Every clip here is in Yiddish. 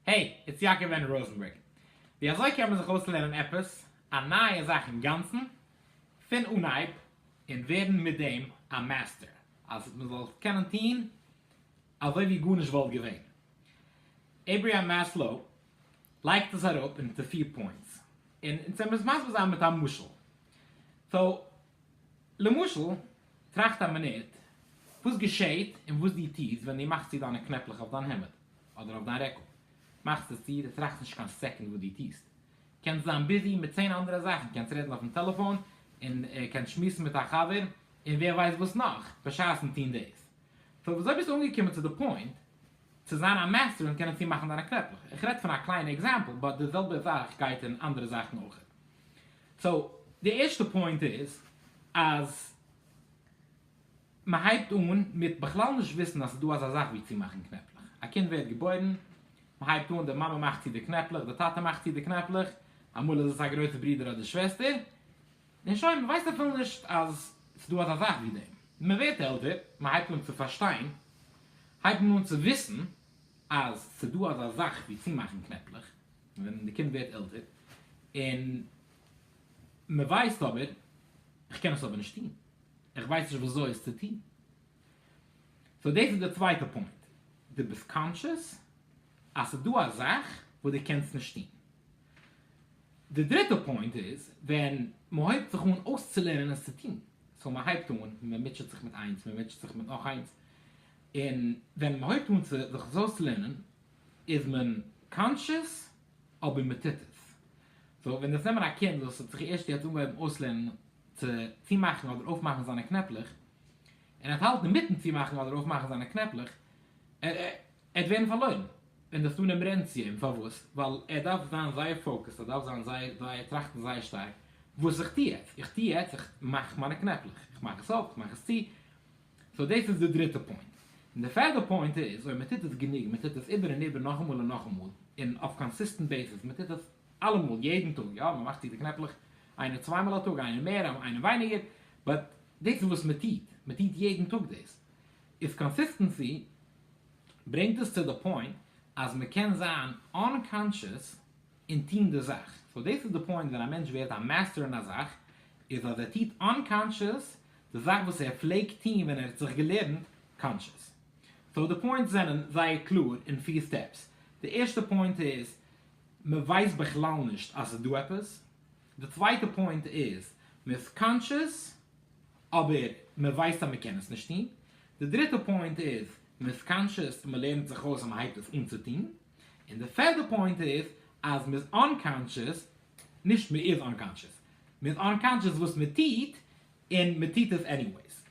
העי, איטס יעקב ווען ראזענבערג. ווי אזוי קען מען זיך אויסלערנען עפעס א נייע זאך אינגאנצן פון אנהייב און ווערן מיט דעם א מעסטער אז מען זאל קענען טון אזוי ווי גארנישט וואלט געווען? עיבריהעם מעסלאו לייגט עס אראפ אין צו פיר פוינטס און אונז וועלן עס מסביר זיין מיט א משל. סאו למשל טראכט א מינוט וואס געשעהט און וואס דו טוסט ווען דו מאכסט צו דיינע קנעפלעך אויף דיין העמד אדער אויף דיין רעקל, מאכסט עס צו, דו טראכסט נישט קיין סעקונד וואס דו טוסט, קענסט זיין ביזי מיט צען אנדערע זאכן, קענסט רעדן אויפן טעלעפאן און קענסט שמועסן מיט א חבר און ווער ווייסט וואס נאך, בשעת'ן טון דאס. סאו וויאזוי ביסטו אנגעקומען צו די פוינט צו זיין א מעסטער און קענען צומאכן דיינע קנעפלעך? איך רעד פון א קליינע עקזעמפל באט די זעלבע זאך גייט אין אנדערע זאכן אויכעט. סאו די ערשטע פוינט איז אז מען הייבט אן מיט בכלל נישט וויסן אז ס'איז דא אזא זאך ווי צומאכן קנעפלעך, א קינד ווערט געבוירן, מען הייבט אן די מאמע מאכט צו די קנעפלעך, די טאטע מאכט צו די קנעפלעך, אמאל איז עס א גרויסע ברודער אדער שוועסטער, און שוין, מען ווייסט אפילו נישט אז ס'איז דא אזא זאך ווי דעם. מען ווערט עלטער, מען הייבט אן צו פארשטיין, הייבט מען אן צו וויסן, אז ס'דא אזא זאך ווי צומאכן קנעפלעך ווען די קינד ווערט עלטער, און מ'ווייסט אבער, כ'קען עס אבער נישט טון, כ'ווייס נישט ווי אזוי עס צו טון. סאו דאס איז די צווייטע פוינט, דו ביסט קאנטשעס אז ס'דא א זאך וואס דו קענסט נישט טון. די דריטע פוינט איז ווען מ'הויבט זיך אן אויסצולערנען עס צו טון, סאו מ'הייבט אן, מ'מוטשעט זיך מיט איינס, מ'מוטשעט זיך מיט נאך איינס, און ווען מען הויבט אן צו זיך עס אויסלערנען איז מען קאנטשעס אבער מען טוט עס. סאו ווען דאס נעמען א קינד וואס האט זיך ערשט יעצט אנגעהויבן אויסלערנען צו צומאכן אדער אויפמאכן זיינע קנעפלעך, און ער וועט האלטן אינמיטן צומאכן אדער אויפמאכן זיינע קנעפלעך, ער וועט ווערן פארלוירן און דאס טאן עמערענציען. פארוואס? ווייל ער דארף זיין זייער פאוקעסט, ער דארף זיין זייער זייער טראכטן זייער שטארק וואס איך טו יעצט? איך טו יעצט, איך מאך מיינע קנעפלעך, איך מאך עס אויף, איך מאך עס צו, סאו דאס איז די דריטע פוינט. און די פערדע פוינט איז, אויב מען טוט עס גענוג, מען טוט עס איבער און איבער נאכאמאל און נאכאמאל, און אויף קאנסיסטענט בעיסיס, מען טוט עס אלעמאל, יעדן טאג, יא, מען מאכט צו די קנעפלעך, איינער צוויי מאל א טאג, איינער מער, איינער ווייניגער, באט דאס איז וואס מען טוט, מען טוט יעדן טאג דאס, איז קאנסיסטענסי ברענגט עס צו די פוינט אז מען קען זיין אנקאנטשעס און טון די זאך. סאו דאס איז די פוינט ווען א מענטש ווערט א מעסטער אין א זאך, איז אז ער טוט אנקאנטשעס די זאך וואס ער פלעגט טוהן ווען ער האט זיך געלערנט קאנטשעס. סאו די פוינטס זענען זייער קלאר אין פיר סטעפס. די ערשטע פוינט איז מען ווייסט בכלל נישט אז ס'איז דא עפעס. די צווייטע פוינט איז מען איז קאנטשעס אבער מען ווייסט אז מען קען עס נישט טוהן. די דריטע פוינט איז מען איז קאנטשעס און מען לערנט זיך אויס אז מען הייבט עס אן צו טוהן. און די פערדע פוינט איז אז מען איז אנקאנטשעס נישט מען איז אנקאנטשעס, מען איז אנקאנטשעס וואס מען טוט, און מען טוט עס עניוועיס.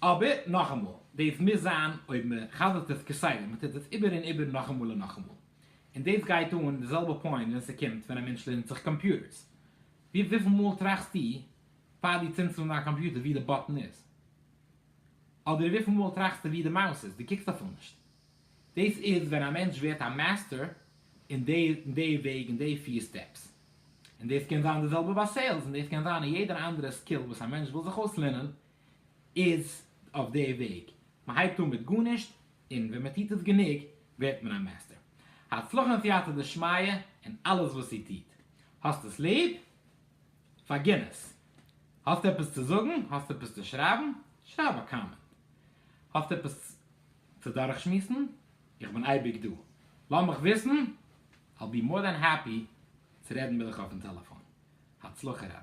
אבער נאכאמאל, דאס מוז זיין אויב מען חזר'ט עס כסדר, מען טוט עס איבער און איבער נאכאמאל און נאכאמאל. און דאס גייט אן די זעלבע פוינט ווען ס'קומט ווען א מענטש לערנט זיך קאמפיוטערס. ווי וויפיל מאל טראכסטו פאר דו צינדסט אן דיין קאמפיוטער וואו די באטן איז? אדער וויפיל מאל טראכסטו וואו די מאוס איז? דו קוקסט אפילו נישט. דאס איז ווען א מענטש ווערט א מעסטער אין די אין די וועג אין די פיר סטעפס. און דאס קען זיין די זעלבע ביי סעילס און דאס קען זיין אין יעדער אנדערע סקיל וואס א מענטש וויל זיך אויסלערנען איז אויף די וועג. מען הייבט אן מיט גארנישט און ווען מען טוט עס גענוג ווערט מען א מעסטער. הצלחה און סייעתא דשמיא אין אלעס וואס איר טוט. האסט עס ליב? פארגין עס. האסט עפעס צו זאגן? האסט עפעס צו שרייבן? שרייב א קאמענט. האסט עפעס צו דורכשמועסן, איך בין אייביג דא, לאז מיך וויסן, I'll be more than happy צו רעדן מיט דיך אויפן טעלעפאן. הצלחה רב.